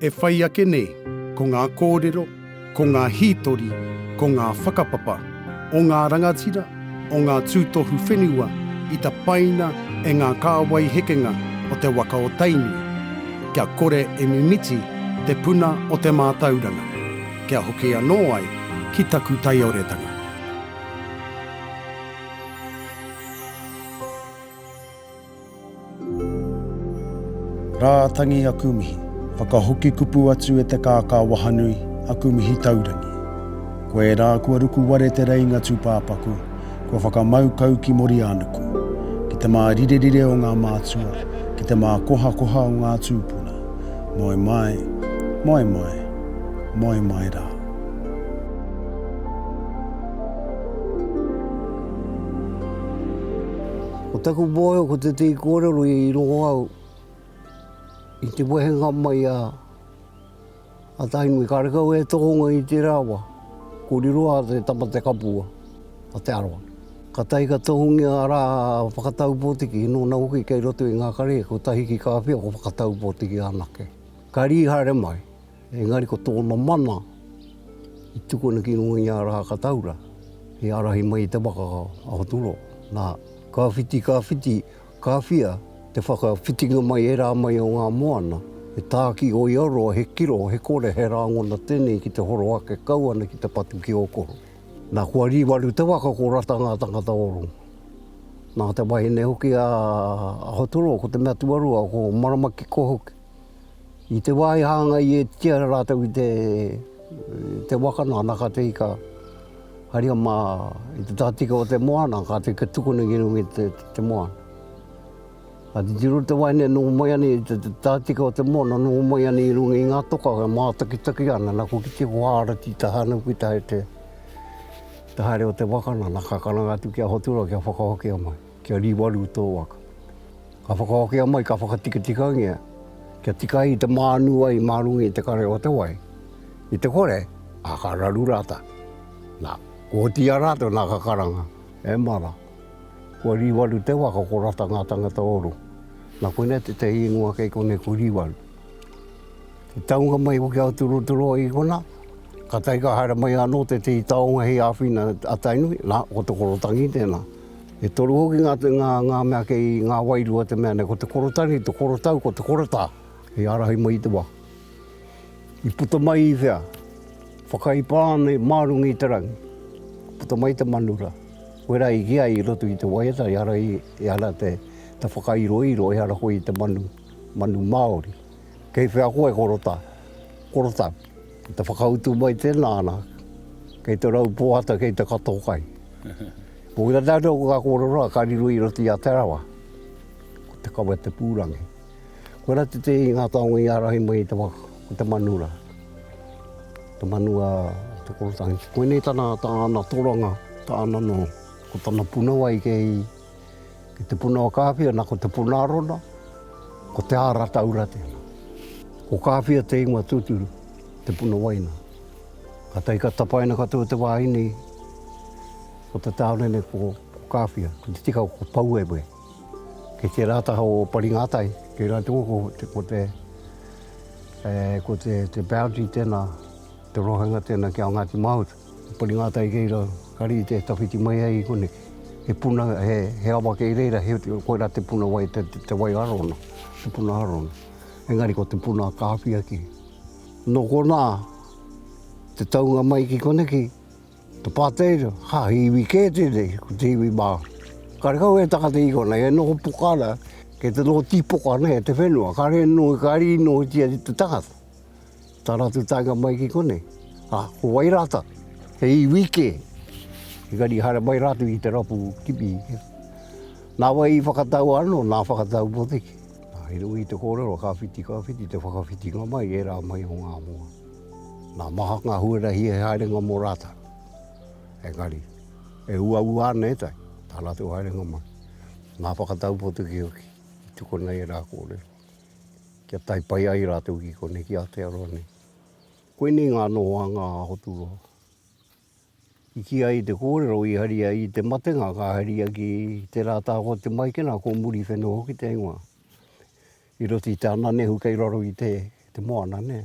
E whai ake nei, ko ngā kōrero, ko ngā hītori, ko ngā whakapapa o ngā rangatira, o ngā tūtohu whenua i tapaina e ngā kāwai hekenga o te waka o Tainui, kia kore e mimiti te puna o te mātauranga, kia hoki anō ai ki taku taioretanga. Rā tangi aku mihi. Whakahoki kupu atu e te kākā wahanui, aku mihi taurangi. Koe rā kua ruku ware te reinga tūpāpaku, kua whakamau kau ki Moriānuku, ki te mārirerire o ngā mātua, ki te mākohakoha o ngā tūpuna. Moe mai, moe mai, moe mai rā. Ko taku mōhio ko tētehi kōrero i rongo au i te wehenga mai a Tainui karekau e tohunga i tērā wa, ko Riroa te tama te kapua a Te Arawa. Ka tahi ka tohungia a rā a Whakataupotiki nōna hoki kei roto i ngā kare kotahi ki Kāwhia ko Whakataupotiki anake. Ka rīhare mai. Engari ko tōna mana i tukuna ki runga i ngā rā kataura he ārahi mai i te waka a Aotearoa. Nā, ka whiti, ka whiti, ka whia te whakawhitinga mai e rā mai o ngā moana, he tāki o Iaroa, he kiro, he kore, he rāngona tēnei ki te horo ake kau ana ki te patu ki Ōkoro. Nā, kua rīwaru te waka ko Rata ngā tangata o roto. Nā te wahine hoki a Aotearoa ko te mea tuarua ko Maramakiko hoki. I te wā i hāngai ētia rātou i te waka nāna ka te ika haria mā i te tahatika o te moana ka te tukuna ki runga i te moana. Ka titiro te wahine noho mai ana i te tahatika o te moana noho mai ana i runga i ngā toka e mātakitaki ana na ko kite ko hāra ki te haere ki te haere o te waka nāna ka karanga atu ki a Hoturoa kia whakahokia mai. Kia riwaru tō waka. Ka whakawakea mai, ka whakatikatikangia kia tika ai te mānu ai mā runga i te kare o te wai. I te kore, ā, ka raru rātou. Nā, kua oti i a rātou, nā ka karanga, E mara, kua riwaru te waka, ko rata ngā tangata o roto. Nā konei tētahi ingoa kei konei ko Riwaru. I taunga mai hoki a Aoteroteroa i konā, ka tae ka haere mai anō tētahi taonga hei āwhina a Tainui, nā, ko Te Korotangi tēnā. E toru hoki ngā, ngā, ngā mea kei ngā wairua te mea nei, ko te korotani, te korotau, ko te korotā hei ārahi mai i te wā. I puta mai i whea? Whakaipā ana i mā runga i te rangi. Puta mai te manu rā. Koe rā i kīa i roto i te waiata, ehara, ehara te, te whakairoiro, ehara koe i te manu, manu Māori. Kei whea koe e korotā? Korotau. Te whakautu mai tēnā, ana, kei te rau pōhata, kei te kato kai. Ko ia tātou ko ngā kōrero ka riro i roto i a Te Arawa, ko Te Kawe-te-pūrangi. Koirā te tēhi i ngā taonga i ārahi mai i te waka, ko Te Manu rā, te manu a Te Korotāhiki. Koinei tana tāna toranga, tāna noho. Ko tana punawai kei te punawa kāwhia, nā, ko Te Puna Arona, ko Te Āra Taura tēnā. Ko Kāwhia te ingoa tūturu, te punawaina. Kātahi ka tapaina katoa te wāhine i o te tāone nei ko Kāwhia, ko te tika ko Pouewe. Kei tērā taha o Paringātai, kei Rāturu ko te, ko te, e, ko te, te boundary tēnā, te rohenga tēnā ki a Ngāti Mahuta. Ko Paringātai kei rā, ka rite e tawhiti mai ai i konei. He puna, he, he awa kei reira, he, koirā te puna wai, te, te wai arona, te puna arona. Engari ko te puna a Kāwhia kē. Nō konā, te taunga mai ki koneki, te pāteira, ha, he iwi kē tēnei, ko te iwi Māori. Karekau e taka te iwi konei, e noho poka ana, kei te noho tīpoka ana e te whenua, kare noho, ka riri nohotia te tangata, tā rātou taenga mai ki konei. Ha, ko wai rātou? He iwi kē. Engari i haere mai rātou i te rapu kimi. Nā wai i whakatau anō, nā whakatau potiki. He nui te kōrero, ka whiti, ka whiti te whakawhitinga mai i ērā mai o ngā moa. Nā, maha ngā huarahi he haerenga mō rātou. Engari, e uaua ana ētahi, tā rātou haerenga mai. Nā, whakatau potu ki hoki, i tukuna ērā kōrero, kia tae pai ai rātou ki konei, ki Aotearoa nei. Koinei ngā nohoanga a Hoturoa. I kī ai te kōrero i haria i te matenga ka haria ki te rā tāko o te maikena ko muri whenua hoki te ingoa. I roto i te ananehu kei raro i te te moana nē.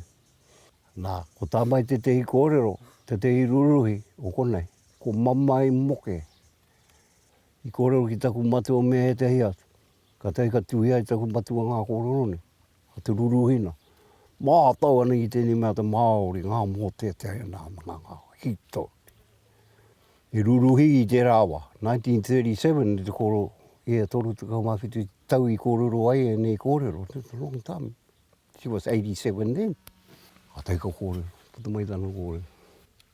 Nā, ko tā mai tētehi kōrero, tētehi ruruhi o konei, ko mamae moke. I kōrero ki taku matua me ētehi atu, kātahi ka tuhia e taku matua ngā kōrero nei. Ko te ruruhina, mātau ana ki tēnei mea te Māori, ngā mōteatea nā, ngā hītori. I ruruhi i tērā wā, 1937 i te koro, i e 37 tau i kōrero ai ēnei kōrero, that's a long time, she was 87 then. Ka take a kōrero, puta mai tana kōrero,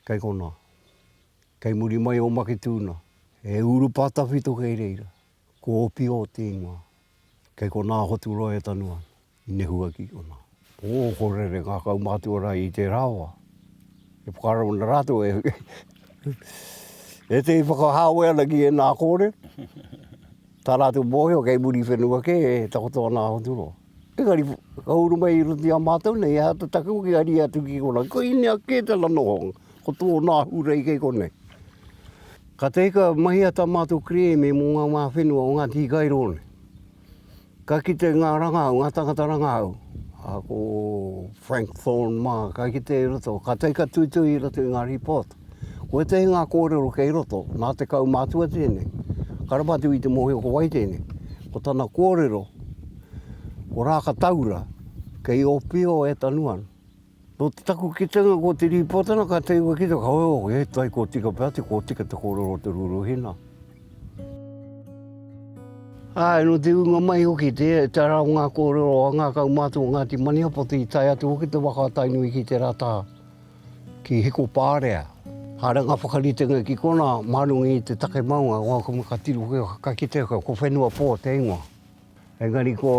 kei konā, kei muri mai o Maketūna, e urupa tawhito kei reira. Ko Opio te ingoa. Kei konā hotu roa e Tanua, i nehua ki konā. Ō, ko Rere ngākau mātua rā i tērā wā. E whakaaro ana rātou e ētehi whakahāwea ana ki ēnā kōrero. Tā rātou mōhio kei muri whenua kē e takoto ana a Hoturoa. Engari, ka uru mai i roto i a mātou nei, he aha te take hoki a ria atu ki konā? Ko Inea kē tana nohonga, ko tōna ahurei kei konei. Ka tahi ka mahia tā mātou kerēme mō ngā wā whenua o ngā tīkairō nei. Ka kite ngā rangahau, ngā tāngata rangahau, a ko Frank Thorne mā, ka kite i roto, ka tahi ka tuitui i roto i ngā rīpōt. Ko ētahi ngā kōrero kei roto, nā te kaumātua tēnei. Ka rawatu i te mōhio ko wai tēnei. Ko tana kōrero, ko Rākataura, kei Ōpio e tanu ana. Nō te taku kitenga ko Te Rīpōtana ka tei koe ki te kawe, he tai kua tika pea te kua tika te kōrero o Te Rūruhina. Āe, nō te ūnga mai hoki te tara o ngā kōrero a ngā kaumātua o Ngāti Maniapoto i tae atu hoki te waka a Tainui ki tērā taha. ki Hikopārea. Haere ngā whakaritenga ki konā, mānungi i te take maunga, o aku mea ka tiro kē, ka kitea kē, ko Whenuapō te ingoa. Engari ko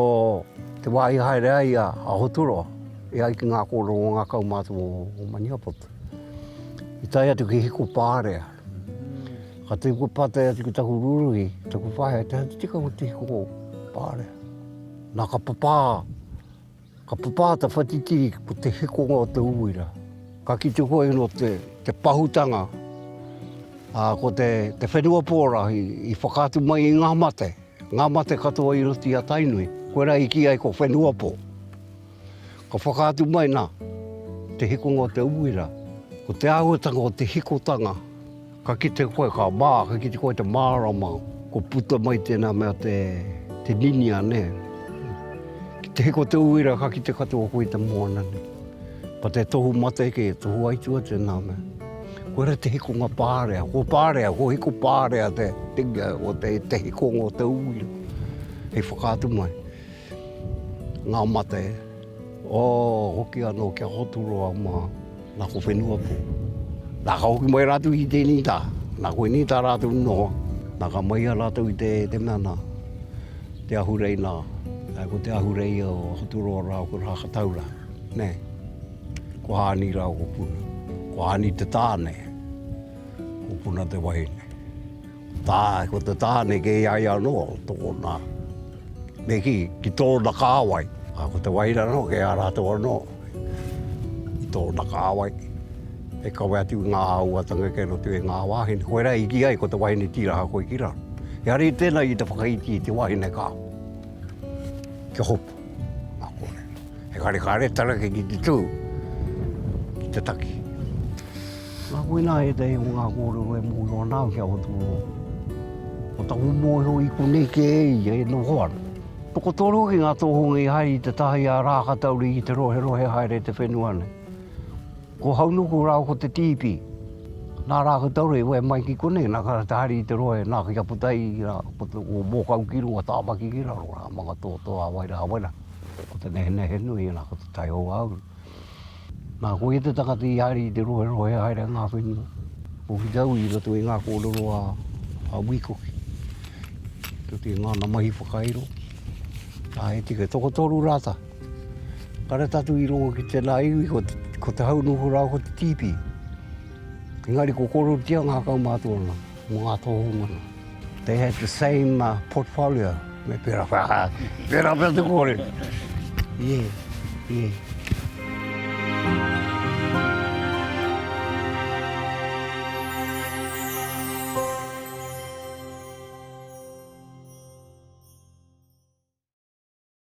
te wā i haere ai a Aoturoa, e ai ki ngā kōrero o ngā kaumātua o Maniapoto, i tae atu ki Hikopārea. Ka tū koe pātai atu ki taku rūruhi, taku whaea, te tika o te Hikopārea? Nā ka papā. Ka papa ta whatitiri ko te hikonga o te uira. Ka kite koe no te, te pahutanga, a, ko te, te whenua pora i, i whakatu mai i nga mate, nga mate katoa i roto i a Tainui. Koe ra i ki ai ko whenua po. Ka whakatu mai na, te hikonga o te uira, ko te ahuatanga o te hikotanga. Ka kite koe, ka mā, ka kite koe te mārama, kua puta mai tēnā mea te, te ninia nē. Ki te hiko te uira ka kite katoa koe i te moana nē. Ko te tohu mate kē, tohu aitua tēnā mea. Koe ra te hikonga pārea, ko pārea, ko hiko pārea te, te, te hikonga o te uira. Hei whakaatu mai. Ngā mate, oh, hoki anō kia Hoturoa mā, nā ko Whenuapo. Nā ka hoki mai rātou ki tēnei tā, nā koe nei tā rātou noho, nā ka mahia rātou i te, te mea nā, te ahurei nā, ā, ko te ahurei o Hoturoa rāua ko Rākatau rā, nē. Ko Hāni rāua ko Puna. Ko Hāni te tāne, ko Puna te wahine. Tā, ko te tāne kē ia ia anō, tōna, me kī, ki tōna kāwai. Ā, ko te wāhine anō kē a rātou anō, i tōna kāwai. E kawe atu i ngā āhuatanga kē noa atu i ngā wāhine. Koirā i kī ai ko te wāhine tīraha koe ki raro. Engari tēnā i te whakaiti i te wāhine ka, kia hopu. Nā konei. Engari kāre tana ki te tū, ki te taki. Nā koinā ētahi o ngā kōrero e mōhio ana au ki a Whatuoro. Ko taku mōhio i konei kē e ia e noho ana. Tokotoru hoki ngā tōhunga i haere i te taha i a Rākatauri ki te roherohe haere i te whenua nei. Ko Haunuku rāua ko Te Tiipi. Nā Rākatauri i wae mai ki konei, nā ka rata haere i te rohe, nā, ki a Potaī rā, ko te, ko Mōkau ki runga, Tāmaki ki raro rā, Mangatoto, Awaira, Awaira, ko te nehenehenui, nā, ko Te Taiohauru. Nā, ko ia te tangata i haere i te roherohe haere a ngā whenua o Whītau i roto i ngā kōrero a Wīkoki. Tō te ngāna mahi whakairo, ā, he tika tokotoru rātā. Ka rata atu i rongo ki tēnā iwi, ko te hau noho rāua ko te tīpī. Engari ko kōrerotia ngā kaumātua mō ngā tōhungana. They had the same uh, portfolio. Me pera wha, pera wha te kore. Yeah, yeah.